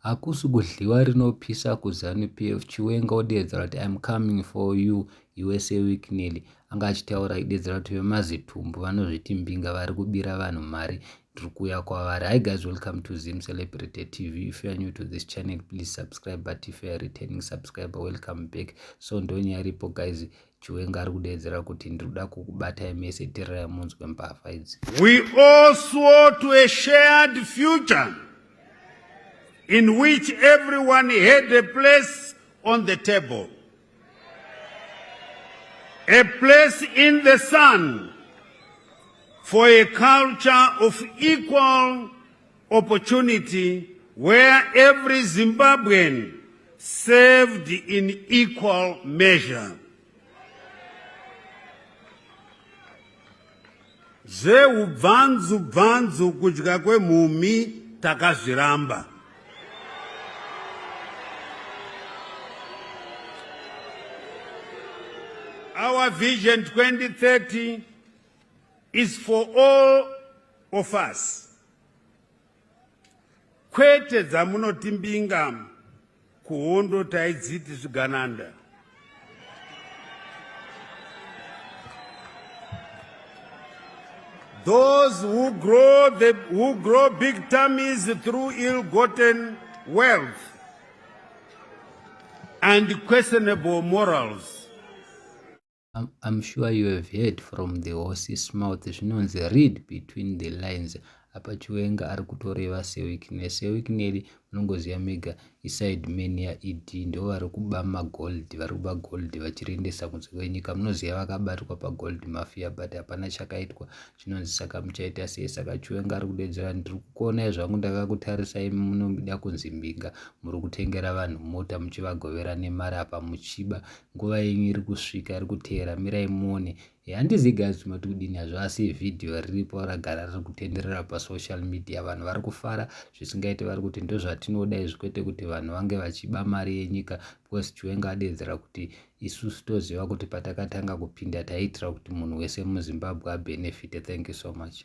Hakusi kudliwa rinopisa ku zanu PF Chiwenga odeedzera kuti I'm coming for you usa week Nelly anga achitaura achideedzera kuti vemazitumbu vanozviti mbinga vari kubira vanhu mari ndiri kuuya kwavari hi guys welcome to zim celebrity tv if you are new to this channel please subscribe but if you are returning subscriber welcome back so ndonyaripo guys Chiwenga ari kudeedzera kuti ndiri kuda kukubatai mese tererai munzwe mbavha idzi. We all swore to a shared future in which everyone had a place on the table. A place in the sun for a culture of equal opportunity where every Zimbabwean served in equal measure. zveubvanzu bvanzu kudya kwemhumhi takazviramba our vision 2030 is for all Offers. Kwete dzamunoti mbinga kuhondo taidziti zvigananda. Those who grow, the, who grow big tummies through ill-gotten wealth and questionable morals I'm, I'm sure you have heard from the horse's mouth zvinonzi read between the lines apa chiwenga ari kutoreva sewikne sewikneli munongoziva mega iside man yaed ndo vari kuba magold vari kuba gold vachiriendesa kunze kwenyika munoziva vakabatwa pagold mafia but hapana chakaitwa chinonzi saka muchaita sei saka chiwenga ari kudedzera ndiri kukuonai zvangu ndakakutarisai munomida kunzi mbinga muri kutengera vanhu mota muchivagovera nemari apa muchiba nguva yenyu iri kusvika iri kuteera mirai muone eh, handizi guys mati kudini hazvo asi vhidhiyo riripo ragara riri kutenderera pasocial media vanhu vari kufara zvisingaite vari kuti ndozvatinoda izvi kwete kuti vanhu vange vachiba mari yenyika because chiwenga adeedzera kuti isusu toziva kuti patakatanga kupinda taiitira kuti munhu wese muzimbabwe abenefite thank you so much